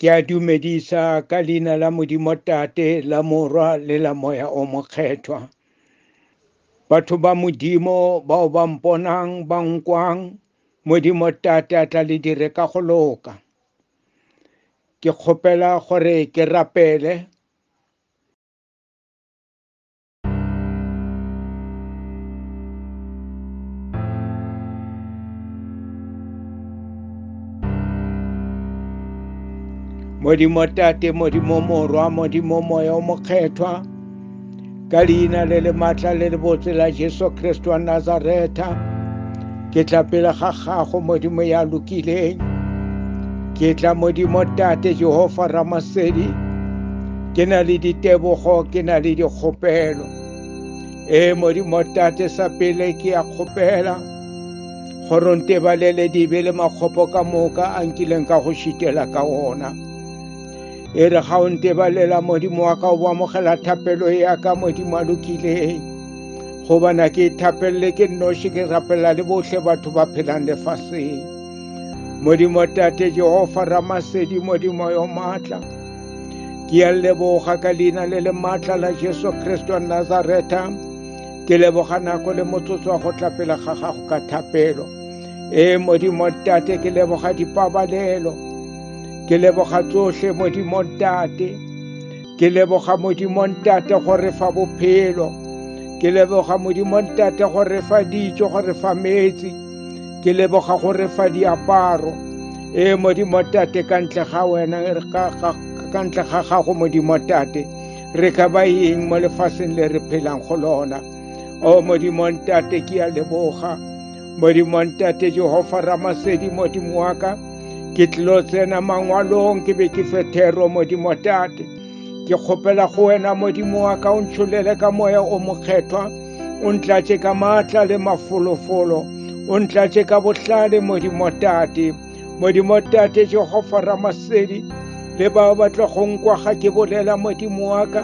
ke a dumedisa ka leina la modimo tate la morwa le la moya o mokgethwa batho ba modimo bao ba mponang ba nkwang modimo tate a tla le dire ka go loka ke kgopela gore ke rapele modimo tate modimo morwa modimo moya o mokgethwa ka leina le le matla le lebotse la jesu kriste wa nazareta ke tla pele ga gago modimo ya lokileng ke tla modimo tate jehova ramasedi ke na le ditebogo ke na le dikgopelo ee modimo tate sa pele ke ya kgopela gore ntebalele dibe le makgopo ka moka a nkileng ka go šitela ka ona E re ga o ntebalela modimo wa ka o amogela thapelo ya ka modimo a lokileng gobana ke thapelele ke nnoši ke rapela le bohle batho ba phelang lefaseng modimo tate jehova ramasedi modimo yo maatla ke a leboga ka leina le le maatla la jesu kriste wa nazareta ke leboga nako le motsotso wa go tla pele ga gago ka thapelo ee modimo tate ke leboga dipabalelo ke leboga tsohle modimo ntate ke leboga modimo ntate go re fa bophelo ke leboga modimo ntate go re fa dijo go re fa metsi ke leboga go re fa diaparo e modimo ntate ka ntle ga wena ka ntle ga gago modimo ntate re ka ba eng mo lefaseng le re phelang go lona o modimo ntate ke a leboga modimo wa ntate jehova ramasedi modimo wa ka ke tlilo tsena mangwalong ke be ke fethero modimo tate ke kgopela go wena modimo wa ka o ntsholele ka moya o mokgethwa o ntlatše ka maatla le mafolofolo o ntlatše ka bohlale modimo tate modimo tate jehova ramasedi le bao ba tlo go nkwa ga ke bolela modimo wa ka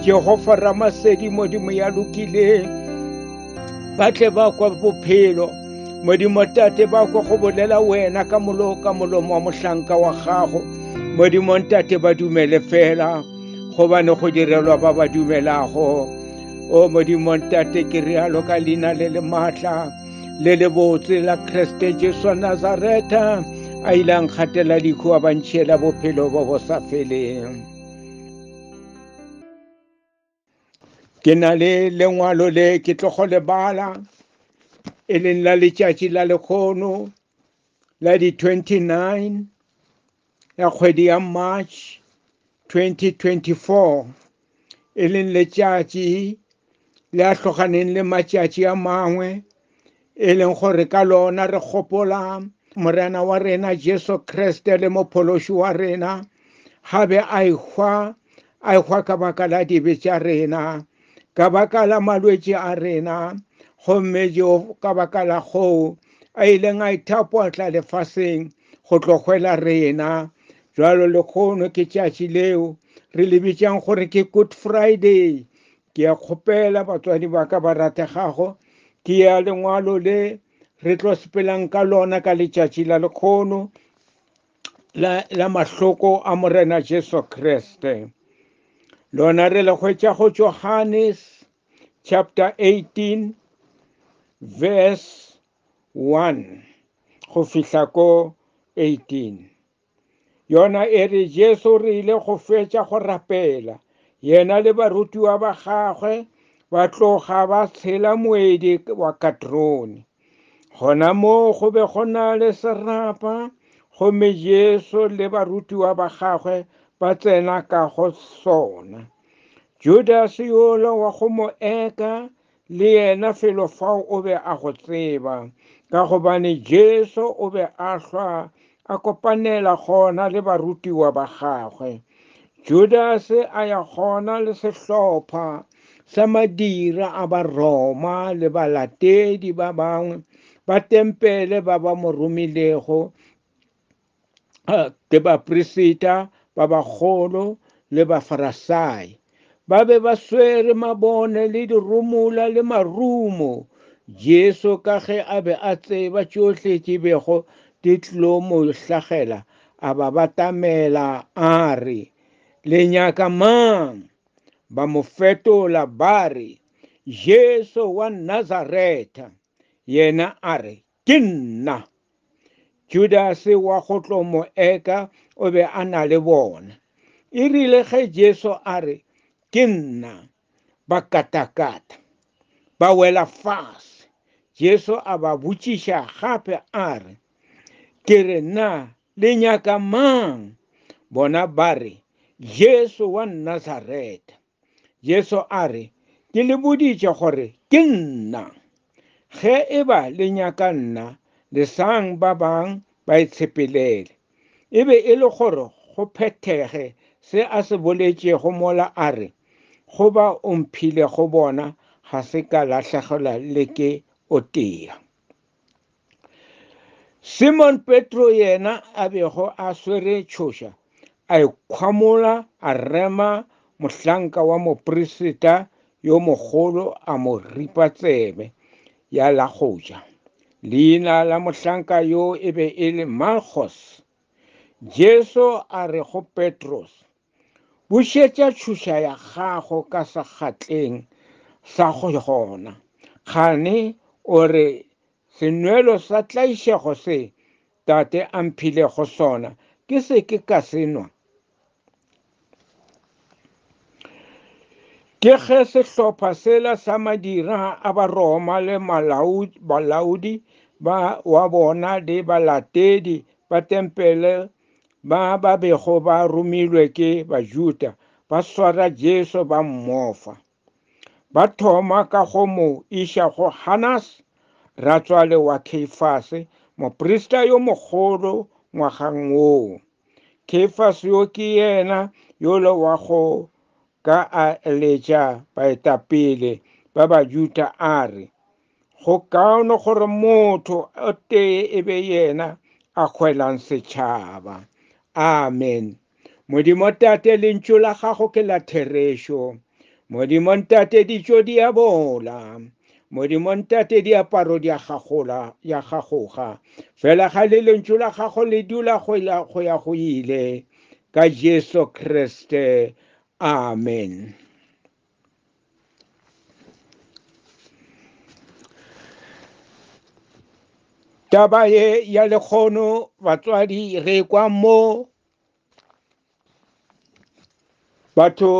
jehova ramasedi modimo ya lokileng ba tle ba kwa bophelo modimo tate ba kwa go bolela wena ka molo ka molomo wa mohlanka wa gago modimo ntate ba dumele fela gobane go direlwa ba ba dumelago o modimo ntate ke realo ka leina le le maatla le le botse la kreste jesu nazareta a ile a nkgatela dikhu a bantšhela bophelo bo bo sa feleng ke na le lengwalo le ke tlogo lebala e leng la letšatši la lekgono la di-29 ya kgwedi ya march 2024 e leng letšatši le a tloganeng le matšatši a mangwe e leng gore ka lona re gopola morena wa rena jesu kriste le mophološi wa rena ga be a ehwa a ehwa ka baka la dibe tša rena ka baka la malwetši a rena gomme jo ka baka la goo a ileng a ithapotla lefaseng go tlogwela rena jalo lekgono ke tšatši leo re le bitšang gore ke good friday Ke a kgopela, batswadi ba ka ba rategago, ke ya lengwalo le re tlo sepelang ka lona ka letšatši la lekgono la, la mahloko a Morena Jesu Kriste. Lona re le hwetša go Johannes chapter 18 verse 1 go fihla ko 18. Yona e re Jesu re ile go fetša go rapela, yena le barutiwa ba gagwe ba tloga ba tshela moedi wa Katrone. Gona moo go be go na le serapa, gomme Jesu le barutiwa ba gagwe ba tsena ka go sona. Judase yola wa go mo eka Le yena felo fao o be a go tseba, ka gobane Jesu o be a hlwa a kopanela gona le barutiwa ba gagwe. Judase a ya gona le sehlopha sa madira a Baroma le balatedi ba bangwe ba tempele ba ba mo romilego ke baprefeta ba bagolo le bafarasai ba be ba swere mabone le dirumula le marumo jesu ka ge a be a tseba tšohle tše bego di tlo mo hlagela a ba batamela a re le nyaka mang ba mo fetola ba re jesu wa nazaretha yena a re Ke nna. Judase wa go tlo mo eka o be a na le bona. E rile ge Jesu a re, Ke nna, ba katakata, ba wela fase. Jesu a ba botšiša gape a re, Ke re na le nyaka mang? Bona ba re, Jesu wa Nazareta. Jesu a re, Ke le boditše gore ke nna. Ge e ba le nyaka nna, lesang ba bang ba itshepelele. E be e le gore go phethege se a se boletšego mola a re, Go ba o mphilego bona ga se ka lahlegelwa le ke o tee. simon petro yena a bego a swere tšhoša a ikgwamola a rema mohlanka wa mopreseta yo mogolo a mo ripa tsebe ya la go ja leina la mohlanka yo e be e le malchos jesu a re go petros Bušetša tšhuša ya gago ka sekgatleng sa go gona. Kgane o re, Senwelo sa tlaišego se tate a mphilego sona ke se ke ka se nwa? Ke ge sehlopha sela sa madira a Baroma le balaodi ba wa bona le balatedi ba tempele ba ba bego ba romilwe ke Bajuda ba swara Jesu ba mmofa. Ba thoma ka go mo iša go Hanas, ratswale wa Keifase, moprista yo mogolo ngwagang woo. Keifase yo ke yena yola wa go ka a eletša baetapele ba Bajuda a re, go kaone gore motho o tee e be yena a kgwelang setšhaba amen modimo tate lentšu la gago ke la therešo modimo ntate ditšo di a bola modimo ntate diaparo di a gagola ya gagoga fela ga le lentšu la gago le dula go ya go ile ka jesu kriste amen taba ye ya lekgono batswadi re kwa mo batho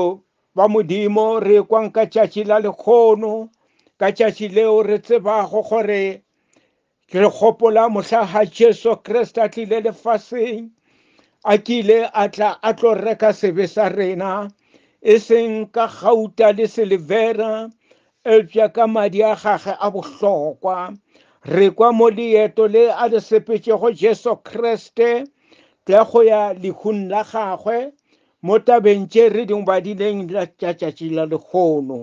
ba modimo re kwang ka tšatši la lekgono ka tšatši leo re tsebago gore Ke re gopola mohla ha Jesu Kriste a tlile lefaseng a kile a tla a tlo reka sebe sa rena e seng ka gauta le silivera eupša ka madi a gage a bohlokwa re kwa mo leeto le a le sepetšego Jesu Kriste tla go ya lehung la gagwe mo tabeng tše re di badileng la tšatšatši la lehono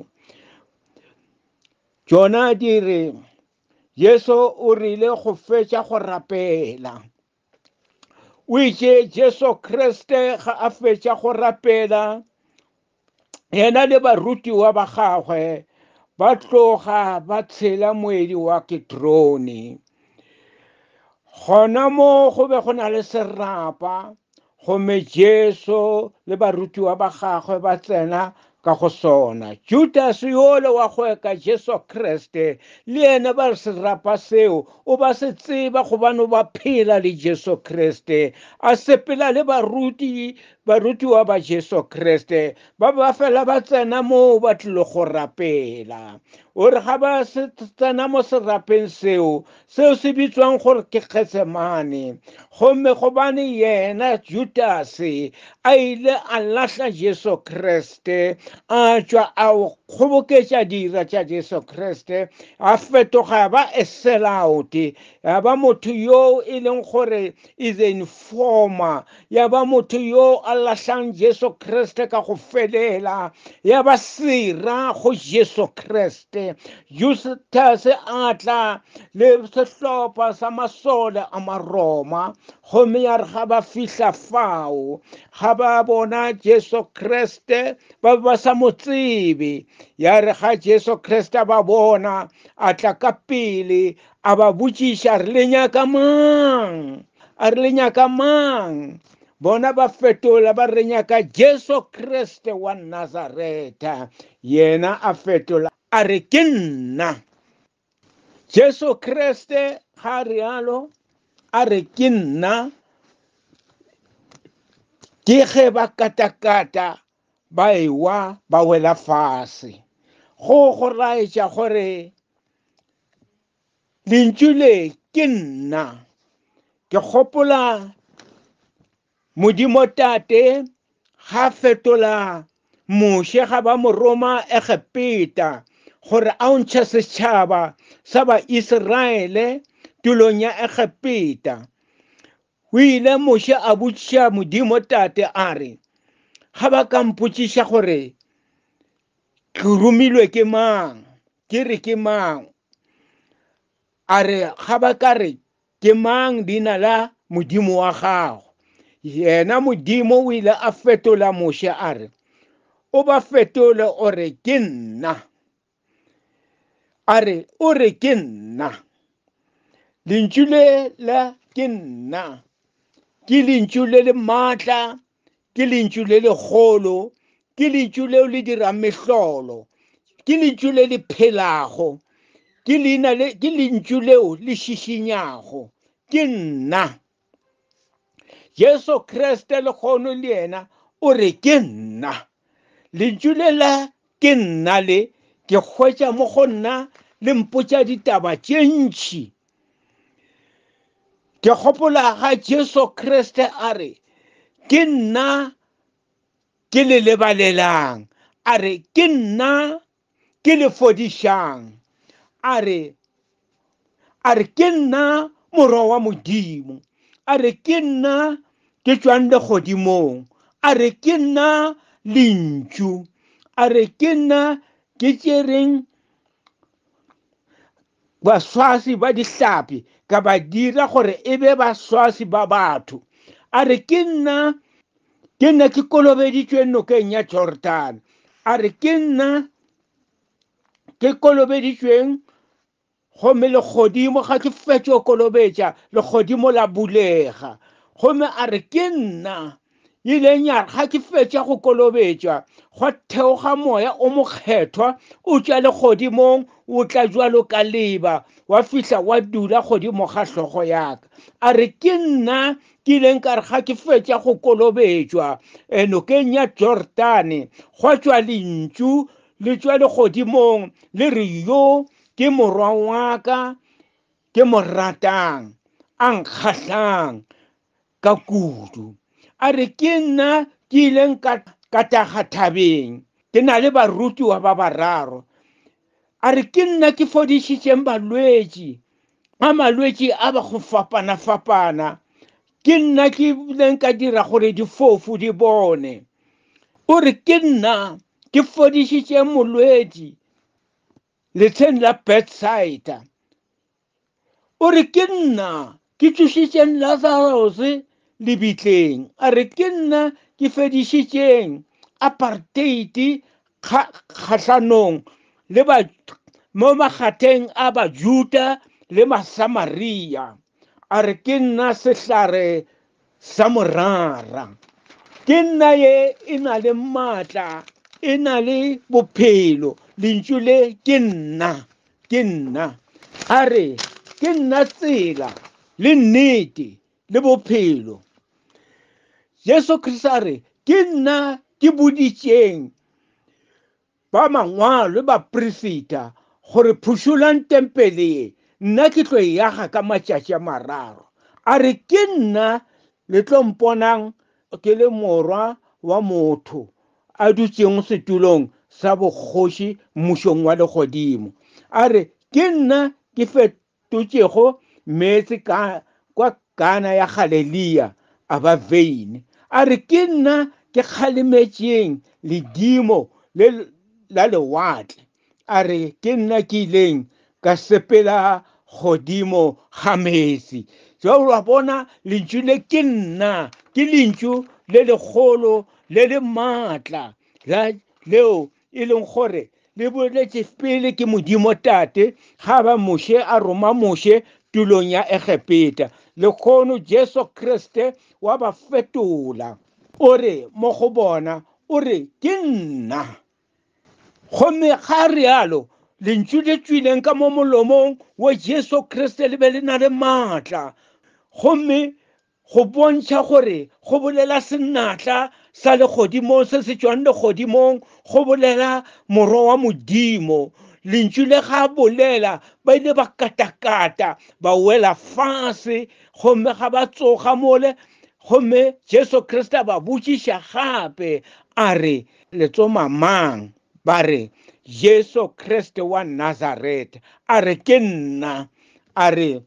tšona di re Jesu o rile go fetša go rapela. O itše Jesu Kriste ga a fetša go rapela, yena le barutiwa ba gagwe ba tloga ba tshela moedi wa Kitrone. Gona mo go be go na le serapa Gomme Jesu le barutiwa ba gagwe ba tsena ka go sona. Judas yole wa go eka Jesu Kriste le yena ba re serapa seo o ba se tseba gobane o ba phela le Jesu Kriste a sepela le baruti barutiwa ba Jesu Kriste ba ba fela ba tsena moo ba tlile go rapela o re ga ba tsena mo serapeng seo Seo se bitšwang gore ke Getsemane. Gomme gobane yena Judase a ile a lahla Jesu Kriste, a tšwa a kgoboketša dira tša Jesu Kriste, a fetoga ya ba eselaote, ya ba motho yoo e leng gore e the informa ya ba motho yo a lahlang jesu kriste ka go felela ya ba sera go jesu kriste justus a tla le sehlopha sa masole a maroma gomme ya re ga ba fihla fao ga ba bona jesu kriste ba be ba sa mo tsebe ya re ga jesu kriste ba bona a tla ka pele A ba botšiša, re le nyaka mang? A re le nyaka mang? Bona ba fetola ba re nyaka Jesu Kriste wa Nazareta. Yena a fetola a re ke nna. Jesu Kriste ga realo a re ke nna ke ge ba katakata ba ewa ba wela fase go go laetša gore lentšu le ke nna ke gopola modimo tate ga fetola moshe ga ba mo roma egepeta gore a o ntšhe setšhaba sa baiseraele tulong ya egepeta o ile moshe a botšiša modimo tate a re ga ba ka mpotšiša gore ke romilwe ke mang ke re ke mang a re ga ba ka re ke mang leina la modimo wa gago yena modimo o ile a fetola moshe a re o ba fetole o re ke nna a re o re ke nna lentšu le la ke nna ke lentšu le le maatla ke lentšu le legolo ke lentšu leo le dirang mehlolo ke lentšu le le phelago ke leina le ke lentšu leo le šišinyago ke nna jesu kriste le kgono le yena o re ke nna lentšu le la Ke nna le, ke hwetša mo go nna le mpotša ditaba tše ntši. Ke gopola ga Jesu Kriste a re, ke nna ke le lebalelang, a re ke nna ke le fodišang, a re a re ke nna morwa wa modimo a re ke nna ke tswang legodimong a re ke nna lentšu a re ke nna ke tšereng baswasi ba dihlapi ka ba dira gore e be baswasi ba batho a re ke nna ke nna ke kolobeditsweng nokeng ya jordan a re ke nna ke kolobeditšweng gomme legodimo ga ke fetšo kolobetša legodimo la bulega gomme a re ke nna ileng ya ga ke fetša go kolobetša gwa theoga moya o mokgethwa o tšwa legodimong o tla jwalo ka leba wa fihla wa dula godimo ga hlogo yaka a re ke nna ke ileng ka re ga ke fetša go kolobetšwa eh, nokeng ya jordane gwa tšwa lentšu le tšwa legodimong le re yo ke morwa wa ka ke mo ratang a nkgahlang ka kudu a re ke nna ke ileng ka ka taga thabeng ke na le barutiwa ba bararo a re ke nna ke fodišitšeng balwetši a malwetši a ba go fapana-fapana ke nna ke ileng ka dira gore difofu di bone o re ke nna ke fodišitše molwetši letsheng la bedside o re ke nna ke tšošitšeng lazarus lebitleng a re ke nna ke fedišitšeng apartheid kgahlanong le ba mo makgatheng a bajuda le masamaria a re ke nna sehlare Sa morara ke nna ye e na le maatla e na le bophelo lentšu le ke nna ke nna a re ke nna tsela le nnete le bophelo jesu kriste a re ke nna ke boditšeng Ba mangwalo ba prefeta gore, Phušolang tempele ye, nna ke tlo e yaga ka matšatši a mararo. A re, Ke nna le tlo mponang ke le Morwa wa motho a dutšeng setulong sa bokgoši mmušong wa legodimo. A re, Ke nna ke totšego meetse ka kwa kana ya Galelea a ba veine, a re, Ke nna ke kgalemetšeng ledimo le la lewatle, a re, Ke nna ke ileng ka sepela godimo ga meetse. Jo wa bona lentšu le ke nna, ke lentšu le legolo le le maatla la leo e leng gore le boletše pele ke modimo tate ga ba moshe a roma moshe tulong ya egepeta lekgono jesu kriste wa ba fetola o re mo go bona o re ke nna gomme ga rialo lentšu le tswileng ka mo molomong wa jesu kriste le be le na le maatla gomme Go bontšha gore go bolela senatla sa legodimong se se tšwang legodimong go bolela Morwa wa Modimo. Lentšu le ga a bolela ba ile ba katakata ba wela fase gomme ga ba tsoga mole gomme Jesu Kriste a ba botšiša gape a re le tsoma mang ba re Jesu Kriste wa Nazareth a re ke nna a re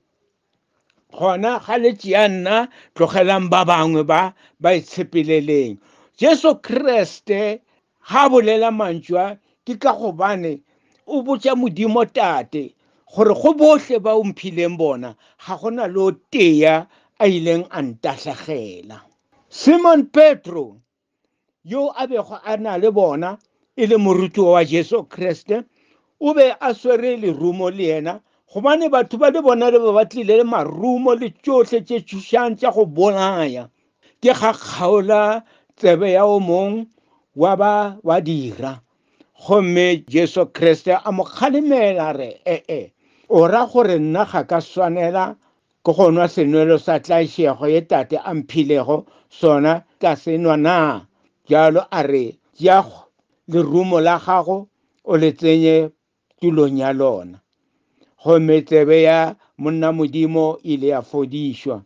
gona ga le tšea nna tlogelang ba bangwe ba ba itshepeleleng jesu kriste ga bolela mantšwa ke ka gobane o botša modimo tate gore go bohle ba o mphileng bona ga go na le o tea a ileng a ntahlagela simon petro yo a bego a na le bona e le morutiwa wa jesu kriste o be a swere lerumo le yena gobane batho ba le bona le ba ba tlile le marumo le tšohle tše tšhošang tša go bolaya ke ga kgaola tsebe ya o mong wa ba wa dira gomme jesu kriste a mo kgalemela re ee o ra gore nna ga ka swanela Ke go nwa senwelo sa tlaišego ye Tate a mphilego sona ka se nwa na? Bjalo a re, Tšea lerumo la gago o le tsenye tulong ya lona. Gomme tsebe ya monna Modimo ile ya fodišwa.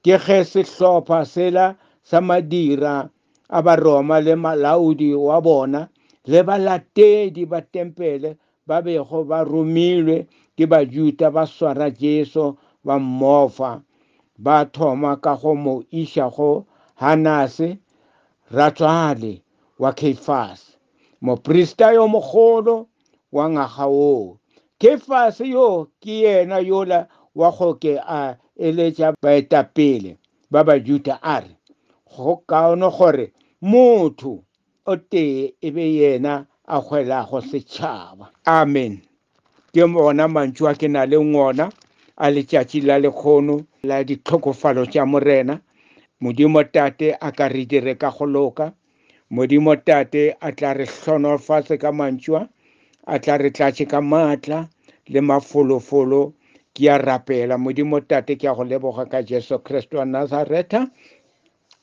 Ke ge sehlopha sela sa madira a Baroma le malaodi wa bona le balatedi ba tempele ba bego ba romilwe ke Bajuda ba swara Jesu ba mmofa. Ba thoma ka go mo iša go Hanase, ratswale wa Keifase, moprista yo mogolo wa ngwaga woo. Keifase yo ke yena yola wa go ke a eletša baetapele ba Bajuda a re, Go kaone gore motho O tee e be yena a hwelago setšhaba. Amen. Ke ona mantšu a ke na le ngona a letšatši la lekgono la ditlhokofalo tša Morena. Modimo Tate a ka re dire ka go loka. Modimo Tate a tla re hlonofatse ka mantšua, a tla re tlatše ka maatla le mafolofolo. Ke a rapela, Modimo Tate, ke a go leboga ka Jesu Kriste wa Nazareta.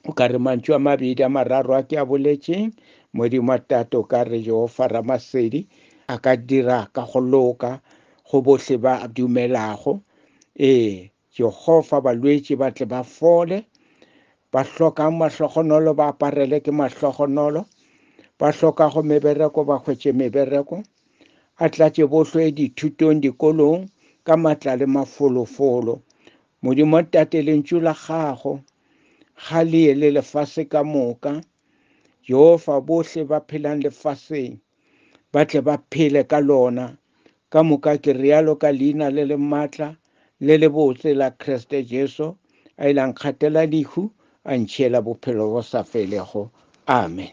o ka re mantšu a mabedi a mararo a ke a boletšeng modimo a tate o ka re jehofa ramasedi a ka dira ka go loka go bohle ba dumelago ee jehofa balwetši ba tle ba fole ba hlokang mahlogonolo ba aparele ke mahlogonolo ba hlokago mebereko ba hwetše mebereko a tlatše bohlo e dithutong dikolong ka matla le mafolofolo modimo tate lentšu la gago Ga le ye le lefase ka moka, Jehofa bohle ba phelang lefaseng ba tle ba phele ka lona. Ka moka ke realo ka leina le le matla le le botse la Kriste Jesu, a ile a nkgatela lehu, a ntšhiela bophelo bo sa felego. Amen.